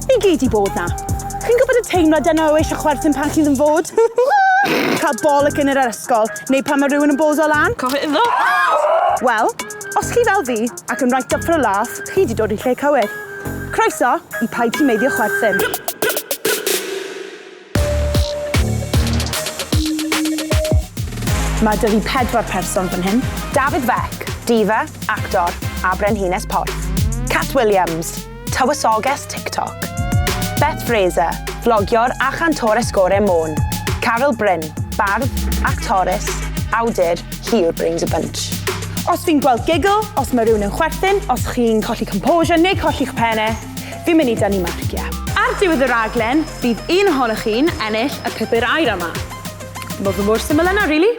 Ni gyd i bod na. Chi'n gwybod y teimlad yna o eisiau chwerthin pan chi'n ddim fod? Cael bol y cyn yr ysgol, neu pan mae rhywun yn bozo lan? Coch iddo! Wel, os chi fel fi, ac yn right up for a laugh, chi wedi dod i lle cywir. Croeso i Paid Ti'n Meiddio Chwerthin. Mae 'da fi pedwar person fan hyn. Dafydd Fek, diva, actor a brenhines porth. Cat Williams, tywysoges TikTok. Beth Fraser, flogiwr a chantores gore Môn. Caryl Bryn, bardd, actores, awdur, hi yw'r brains a bunch. Os fi'n gweld giggle, os mae rhywun yn chwerthin, os chi'n colli composure neu colli'ch penne, fi'n mynd i dynnu marciau. Ar diwedd y rhaglen, Bydd un ohonoch chi'n ennill y pupur aer yma. Mae fe mor syml yna, rili.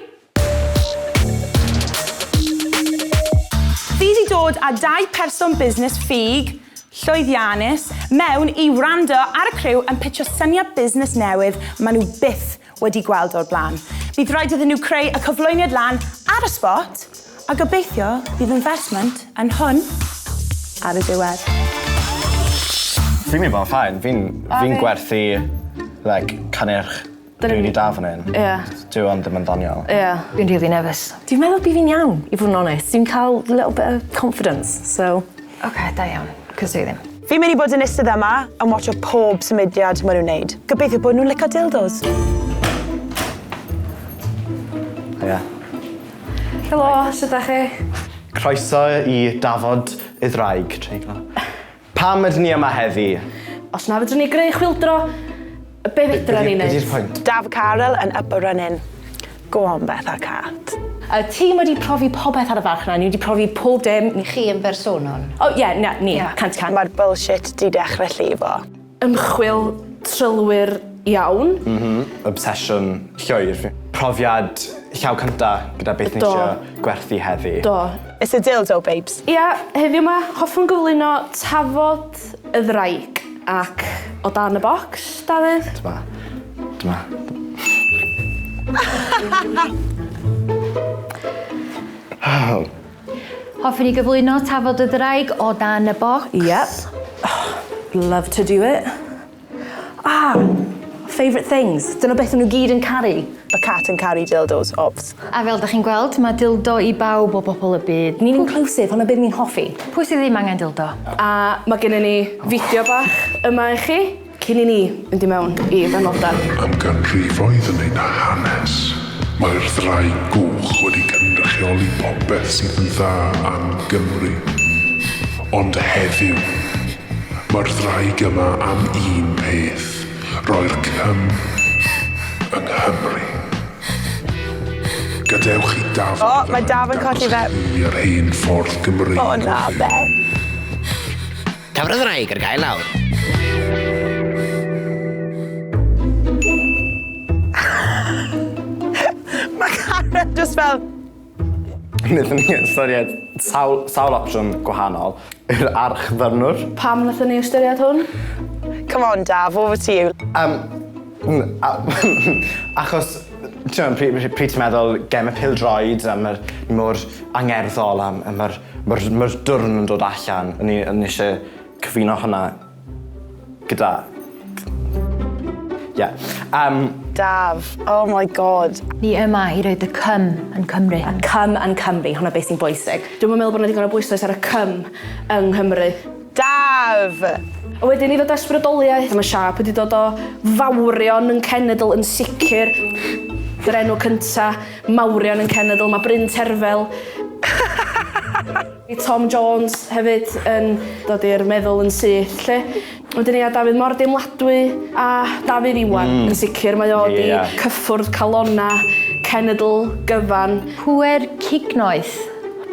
Fi di dod â dau person busnes ffug, llwyddiannus, mewn i wrando ar y criw yn pitsio syniad busnes newydd ma' nhw byth wedi gweld o'r blaen. Bydd rhaid iddyn nhw creu y cyflwyniad lan ar y spot a gobeithio bydd investment yn hwn ar y diwedd. Fi'n mynd i fod yn fine, fi'n fi gwerthu like cynnyrch rili da fan hyn. Ie. Dyw hwn ddim yn ddoniol. Ie. Fi'n rili nervous. Dwi'n meddwl bydd fi'n iawn i fod yn onest. Dwi'n cael little bit of confidence so. Ok, da iawn, cos dwi ddim. Fi'n mynd i bod yn istedd yma yn watsio pob symudiad maen nhw'n wneud. Gobeithio bod nhw'n licio dildos. Hiya. Helo, sut ydych chi? Croeso i dafod y ddraig, treiglo. Pam ydyn ni yma heddi? Os na fedrwn ni greu chwildro, Be fedra ni neud? Be di'r pwynt? Daf Carel yn up a runnin. Go on Betha Cat. Y tîm wedi profi popeth ar y farchnad, ni wedi profi pob dim. Ni chi yn bersonol? O ie, na, ni, cant y cant. Mae'r bullshit 'di dechre llifo. Ymchwil trylwyr iawn. M-hm, obsesiwn llwyr. Profiad llaw cynta gyda beth ni isio gwerthu heddi. Do. It's a dildo, babes. Ia, heddiw 'ma hoffwn gyflwyno tafod Y ddraig ac o dan y bocs, Dafydd? Dyma. Dyma. Hoffwn i gyflwyno Tafod y Ddraig o dan y Bocs. Yep. Love to do it. Ah! Favourite things. Dyna beth maen nhw gyd yn caru. A cat yn caru dildos, obvs. A fel dach chi'n gweld, mae dildo i bawb o bobl y byd. Ni'n inclusive, hwnna be ni'n hoffi. Pwy sydd ddim angen dildo? A mae gennym ni fideo bach yma i chi cyn i ni fynd i mewn i fanylder. Am ganrifoedd yn ein hanes, mae'r Ddraig Goch wedi cynrychioli popeth sydd yn dda am Gymru. Ond heddiw, Mae'r ddraig yma am un peth, roi'r cym yng Nghymru. Gadewch i Dafydd... O, mae Daf yn colli fe. ...dangos yr hen ffordd Gymreig o hyd. O na, Beth! Dafydd y ddraig ar gael nawr. Mae Karen just fel... Nethon ni ystyried sawl sawl opsiwn gwahanol i'r arch ddyrnwr. Pam nathon ni ystyried hwn? Come on Daf, over to you. Yym m- a- achos t'mo' pry- pry- pryd ti'n meddwl gem y pêl-droed a ma'r mor angerddol a m- a ma'r ma'r ma'r dwrn yn dod allan o'n i o'n i isie cyfuno hwnna Gyda. Ie. Yym. Daf. Oh my God. Ni yma i roi dy cym yn Cymru. A cym yn Cymru, hwnna beth sy'n bwysig. Dwi'm yn meddwl bod 'na ddigon o bwyslais ar y cym yng Nghymru. Daf! A wedyn i ddod â sbrydoliaeth, mae siâp wedi dod o fawrion yn cenedl yn sicr. Yr enw cynta, mawrion yn cenedl, mae Bryn Terfel. Mae Tom Jones hefyd yn dod i'r meddwl yn syth 'lly. Wedyn ia Dafydd mor deimladwy a Dafydd Iwan yn sicr mae o 'di cyffwrdd calonna cenedl gyfan. Pŵer cig noeth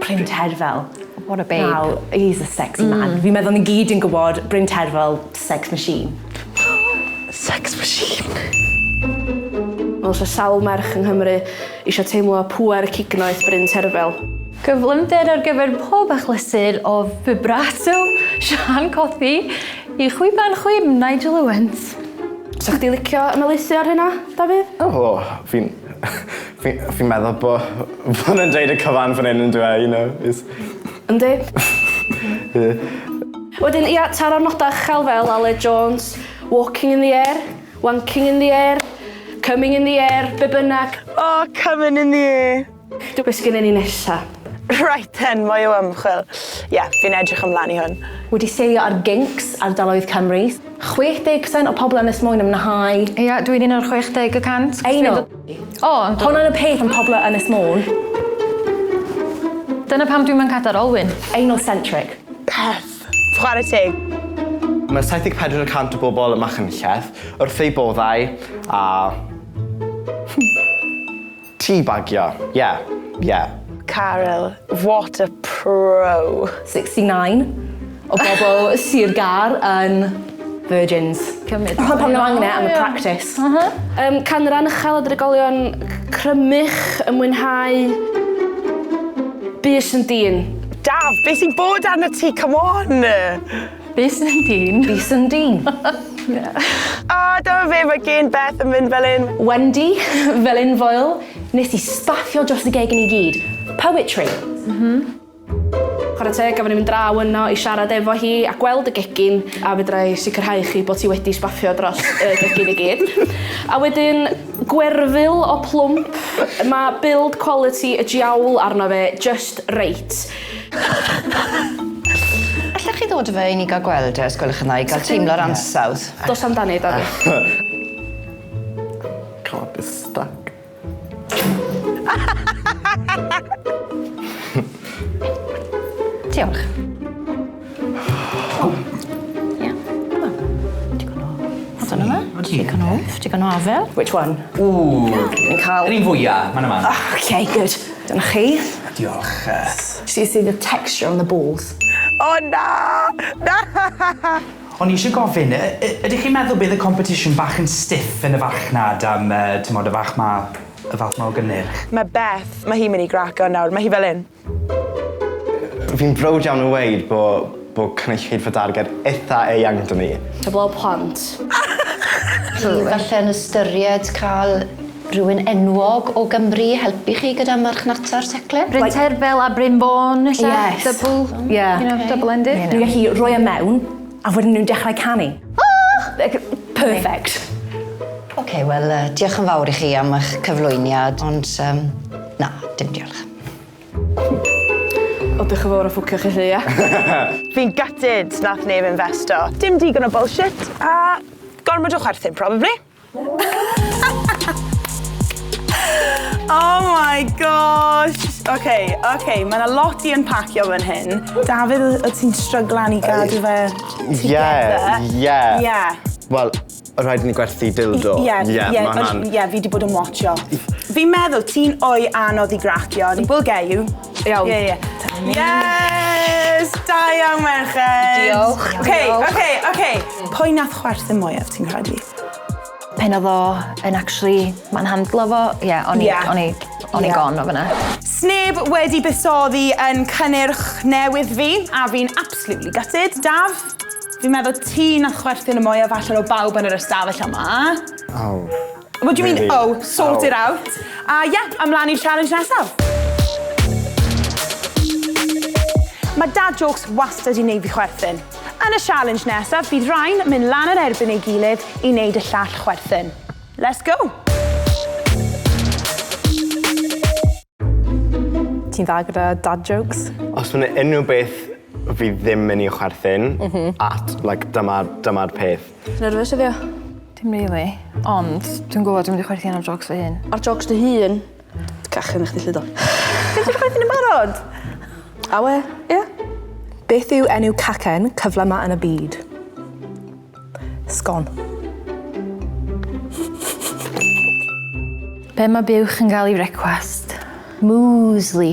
Bryn Terfel. What a babe. Wel he's a sexy man. Fi'n meddwl ni gyd yn gwybod Bryn Terfel Sex machine. Sex machine. Fel sa sawl merch yng Nghymru eisiau teimlo pŵer y cignoeth bryn terfel. Cyflymder ar gyfer pob achlysur o vibrato Siân Cothi i chwiban chwim Nigel Owens. Sa chdi licio ymelaethu ar hynna, Dafydd? O, oh, fi'n... fi'n fi meddwl bod... bod yn dweud y cyfan fan hyn yn dweud, you know, is... Yndi. Wedyn ia, taro'r nodau uchel fel Aled Jones, walking in the air, wanking in the air, coming in the air, be bynnag. O, coming in the air! Do, be sgynnon ni nesa? Right then, mwy o ymchwil. Ia, fi'n edrych ymlaen i hwn. Wedi seilio ar gyncs ardaloedd Cymru. 60% o pobl Ynys Môn yn mwynhau... Ia, dwi'n un o'r 60 y cant. I know! O, yndw. Hon yn y peth yn pobl o Ynys Môn. Dyna pam dwi'n man cadar olwyn. Anal centric. Peth. Chwarae teg. Mae 74 y cant o bobl y Machynlleth wrth eu boddau a... Teabagio. Ie. Ie. Caryl. What a pro. 69. O bobl Sir Gar yn virgins. Cymryd. Pam pam ddim angen e am y practis. Aha. Yym canran uchel o drigolion crymych yn mwynhau bys yn dyn. Daf, be sy'n bod arnat ti, come on! Bys yn dyn. Bys yn dyn. O, dyma fe, mae gen Beth yn mynd fel un. Wendy, fel un foel, nes i spaffio dros y gegin i gyd. Poetry. Mhm. Chwarae teg, gafon ni fynd draw yno i siarad efo hi a gweld y gegin, a fedra i sicrhau chi bod hi wedi sbafio dros y gegin i gyd. A wedyn, gwerfyl o plwmp, mae build quality y jiawl arno fe just reit. Allech chi ddod â fe i ni gael gweld e, os gwelwch yn dda, i gael teimlo'r ansawdd? Dos amdani, Dani. Can't be stuck. Diolch. Digon o wff, digon o afel. Which one? Ooh. Ni'n cael... Yr un fwya, man yma. Oh, okay, good. Dyna chi. Diolch. Did you see the texture on the balls? O na! Na! O'n i eisiau gofyn, ydych chi'n meddwl bydd y competition bach yn stiff yn y farchnad am, timod, y fath 'ma, y fath 'ma o gynnyrch? Mae Beth, mae hi'n mynd i graco nawr, mae hi fel hyn. Fi'n browd iawn o weud bo bo cynulleidfa darged itha eang 'da ni. Heblaw plant. Felly yn ystyried cael Rhywun enwog o Gymru i helpu chi gyda marchnata'r teclyn? Bryn Terfel a Bryn Fôn ella? Yes. Double, yeah. you know, double ended. Dwi'n gallu rhoi e mewn a wedyn nhw'n dechrau canu. Oh! Perfect. Oce, okay, wel, uh, diolch yn fawr i chi am eich cyflwyniad, ond um, na, dim diolch. O, dych yn fawr o ffwcio chi chi, ia? Fi'n gutted nath neb investo. Dim digon o bullshit, a gormod o chwerthin, probably. oh my gosh! Oce, okay, oce, okay. mae yna lot i unpacio fan hyn. Dafydd, o ti'n stryglan i gadw fe together? Yeah, yeah. Yeah. Wel, rhaid ni gwerthu dildo. Ie, yeah, yeah, yeah, yeah, yeah, fi wedi bod yn watcho. Fi'n meddwl ti'n o'i anodd i gracio. We'll get you. Iawn. Ie ie. Yes! Da iawn merched! Diolch. Oce oce oce. Pwy nath chwerthin mwyaf ti'n credu? Pen odd o yn actually ma'n handlo fo ie o'n i o'n i o'n i gone o fynna. Sneb wedi buddsoddi yn cynnyrch newydd fi a fi'n absolutely gutted. Daf, fi'n meddwl ti nath chwerthin y mwyaf allan o bawb yn yr ystafell yma. Aww. What do you mean, oh, sort oh. it out. A uh, yeah, ymlaen i'r challenge nesaf. Mae dad jokes wastad i wneud fi chwerthin. Yn y challenge nesaf, bydd rhain mynd lan yn erbyn ei gilydd i wneud y llall chwerthin. Let's go! Ti'n dda gyda dad jokes? Os mae'n unrhyw beth fi ddim yn ei chwerthin, mm -hmm. at, like, dyma'r dyma peth. Ti'n nerfus heddiw? Dim rili, ond dwi'n gwybod dwi'n mynd i chwerthin ar jocs fy hun. Ar jocs dy hun? Cachu na chdi llyd o. Ti'n ti'n chwerthin yn barod? Awe, ie. Beth yw enw cacen cyfle ma yn y byd? Sgon. Be mae buwch yn gael i frecwast? Muesli.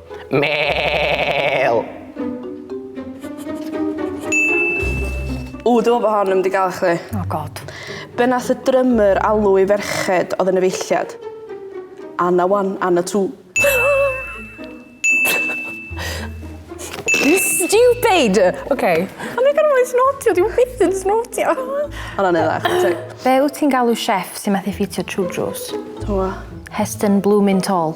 Mêl! Ww, dwi'n meddwl bod hon yn mynd i gael chdi. Oh god. Be nath y drummer alw i ferched oedd yn y feilliad? Anna one, Anna two. Stupid! OK. Ond dwi'n gorfod snotio, dwi'n byth yn snotio. Ond o'n edrych, teg. Be wyt ti'n galw chef sy'n methu ffitio true drws? Hwa? Heston Bloomin' Tall.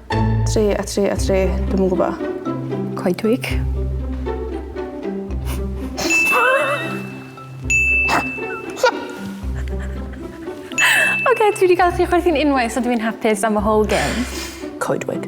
Tri a tri a tri, dwi'm yn gwybod. Coedwig. Oce, dwi wedi cael chi chwerthin unwaith, so dwi'n hapus am y whole game. Coedwig.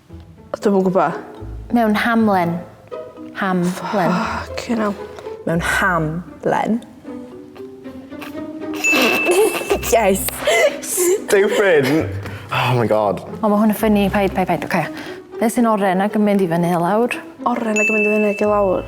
Dwi'm yn gwbo. Mewn hamlen. Ham. Len. Ffycin ell. Mewn ham. Len. Yes! Stupid! Oh my god. O, mae hwn yn ffynnu. Paid, paid, paid. Oce. Beth sy'n oren ac yn mynd i fyny i lawr? Oren ac yn mynd i fyny ac i lawr?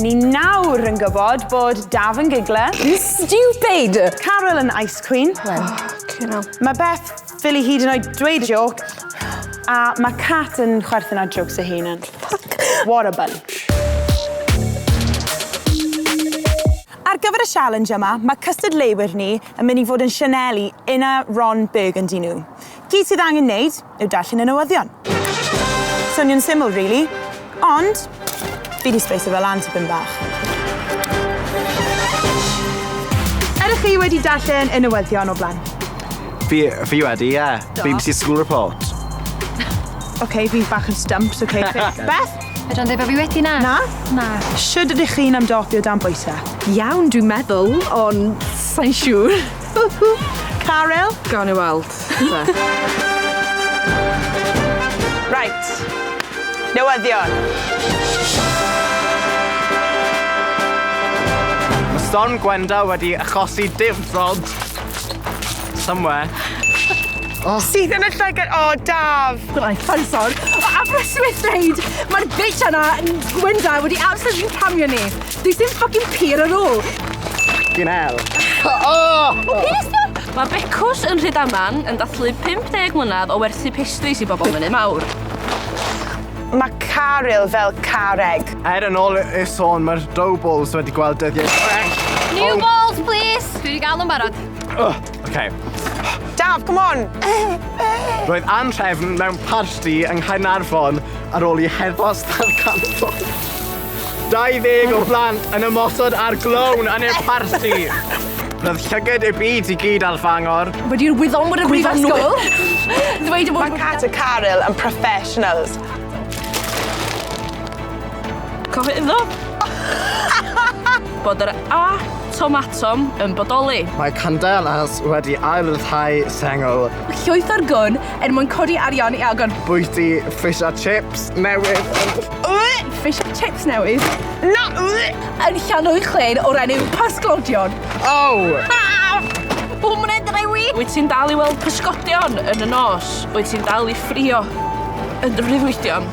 Ni nawr yn gwybod bod Daf yn gigler. You stupid! Carol yn ice queen. Well, you know. Mae Beth ffili hyd yn oed dweud joc. A mae Cat yn chwerthin ar jokes ei hun yn. Fuck! What a bunch. Ar gyfer y sialens yma, mae cystadleuwyr ni yn mynd i fod yn sianelu Inna, Ron, Burgundy nhw. Gyd sydd angen neud yw darllen y newyddion. Swnio'n syml rili, ond fi 'di sbeiso fe lan tipyn bach. Ydych chi wedi darllen y newyddion o blaen? Fi, fi wedi, ie. BBC School Report. Oce, fi bach yn stumped, oce. Beth? Fedra i'n dweud bod fi wedi na. Na? Na. Shwd ydych chi'n ymdopi o dan bwyse? Iawn dwi'n meddwl, ond sai'n siŵr. Caryl? Gawn ni weld te. Reit. Newyddion. Mae storm Gwenda wedi achosi dim ffrog. Somewhere. Oh. Sydd yn y llygad? O, oh, Daf! Gwnaeth Fanson. O, Aberystwyth dweud, mae'r bitch yna, Gwynda, wedi absolutely camio ni. This is fucking pur ar ôl! Fucking hell! O! Mae Becws yn Rhydaman yn dathlu 50 mlynedd o werthu pastries i bobl Mynydd Mawr. Mae Caryl fel carreg. Er yn ôl y sôn, mae'r dough balls wedi gweld dyddiau gwell. New balls, please! Dwi wedi gael nhw'n barod. Oce. Daf, come on! Roedd anrhefn mewn parti yng Nghaernarfon ar ôl i heddwas ddarganfod 20 o blant yn ymosod ar glown yn eu parti. Roedd llyged y byd i gyd ar Fangor. Wedi'r wyddonwyr y brifysgol ddweud y bod... Mae Cat a Caryl yn professionals. Cofio iddo bod yr A Tomatom yn bodoli. Mae Candelas wedi ail-ryddhau sengl. Llwyth ar gwn er mwyn codi arian i agor. Bwyty fish a chips newydd yn. Fish a chips newydd? Na! Yn Llanwyd Llên o'r enw Pysglodion. Aww! Pum munud drewi! Wyt ti'n dal i weld pysgodion yn y nos? Wyt ti'n dal i ffrio yn dy freuddwydion?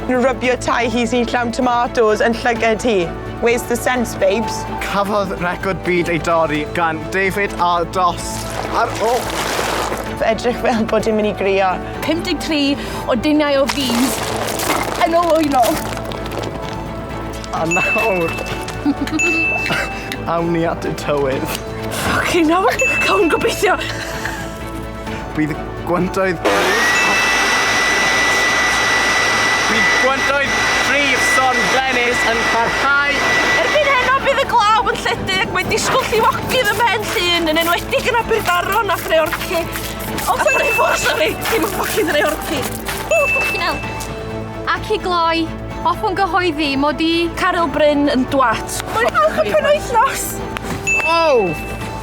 Nhw rybio tai hi sy'n llawn tomatos yn llyged hi. Where's the sense, babes? Cafodd record byd ei dorri gan David ar dost ar ôl Fe edrych fel bod hi'n mynd i grio. 53 o duniau o fis yn ôl o'i nôl. A nawr, awn ni at y tywydd. Ffycin hell! Cawn gobeithio! Bydd gwantoedd... Bydd gwantoedd prif son Glenys yn parhau. Erbyn heno bydd y glaw yn lledu ac mae disgwyl llifogydd ym mhen llun yn enwedig yn Aberdaron a Threorci. O, dwi'n ei ffwrdd, sori! Dim yn ffocin Threorci. O, ffocin el. Ac i gloi, hoffwn gyhoeddi mod i... Caryl Bryn yn dwat. Mae'n falch y penwythnos! Oh!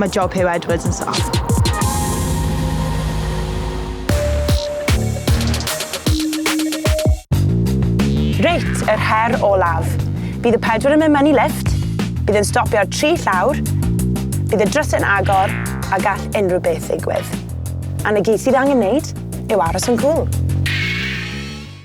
Mae job Huw Edwards yn soft. Reit, yr her olaf. Bydd y pedwar yn mynd mewn i lifft, bydd yn stopio ar tri llawr, bydd y drysau'n agor a gall unrhyw beth ddigwydd. A na gyd sydd angen wneud yw aros yn cwl.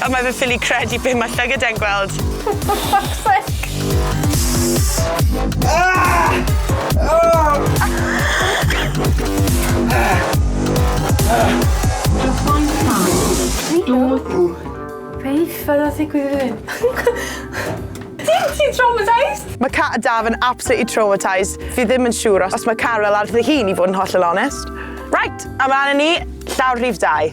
O mae fe'n ffili credu be mae llygad e'n gweld. Beth oedd yn digwydd i fi? Ti'n traumatised? Mae cat a Daf yn absolutely traumatised. Fi ddim yn siŵr os mae Carel ar fy hun i fod yn hollol onest. Right, a ma' 'na ni, llawr rhif dau.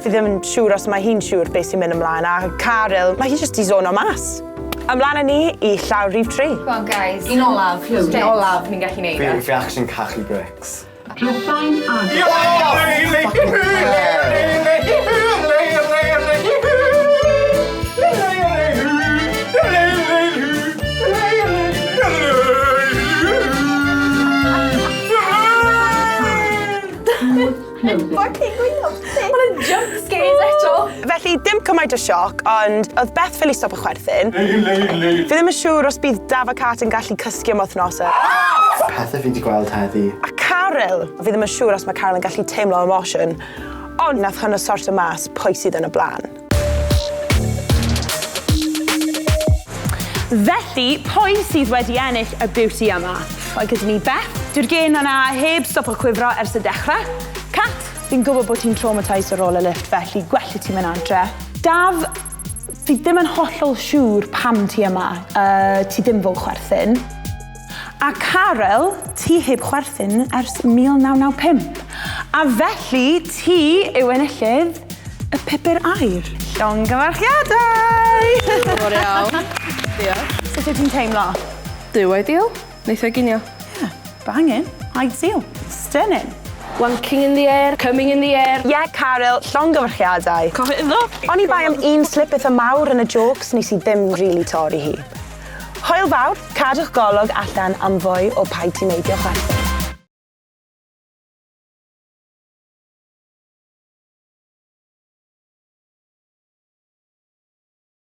Fi ddim yn siŵr os mae hi'n siŵr beth sy'n mynd ymlaen, a Caryl, mae hi jyst i zono mas. Ymlaen â ni i llaw rhif tri. Go on guys. Un olaf, Huw, un olaf, ni'n gallu neud e. Fi, fi actually'n cachu brics. Drysau'n agos. Clywed. Fucking gwylio. Mae yna jump scares eto. Felly, dim cymaint o sioc, ond oedd Beth ffili stop y chwerthin. Leid, leid, leid. Fi ddim yn siŵr os bydd Daf a Cat yn gallu cysgu am wythnos. Pethau fi wedi gweld heddi. A Caryl! Fi ddim yn siŵr os mae Caryl yn gallu teimlo emotion, ond nath hwnnw sortio mas pwy sydd yn y blaen. Felly, pwy sydd wedi ennill y beauty yma? Mae gyda ni Beth. Dyw'r gên yna heb stopo cwifro ers y dechrau. Cat, fi'n gwybod bod ti'n traumatised ar ôl y lift, felly gwelli ti mynd adre. Daf, fi ddim yn hollol siŵr pam ti yma, uh, ti ddim fo chwerthin. A Caryl, ti heb chwerthin ers 1995, a felly ti yw enillydd y Pupur Aur. Llongyfarchiadau! Diolch yn iawn. Diolch. Sut wyt ti'n teimlo? Duw ideal. Neith o ginio. Yeah, bangin'. Ideal. Stunning. Wanking in the air, coming in the air. Ie, Caryl, llongyfarchiadau. Cofio iddo. Oni bai am un slip itha mawr yn y jôcs nes i ddim rili torri hi. Hwyl fawr, cadwch golwg allan am fwy o Paid Ti'n Neidio Chwerthin.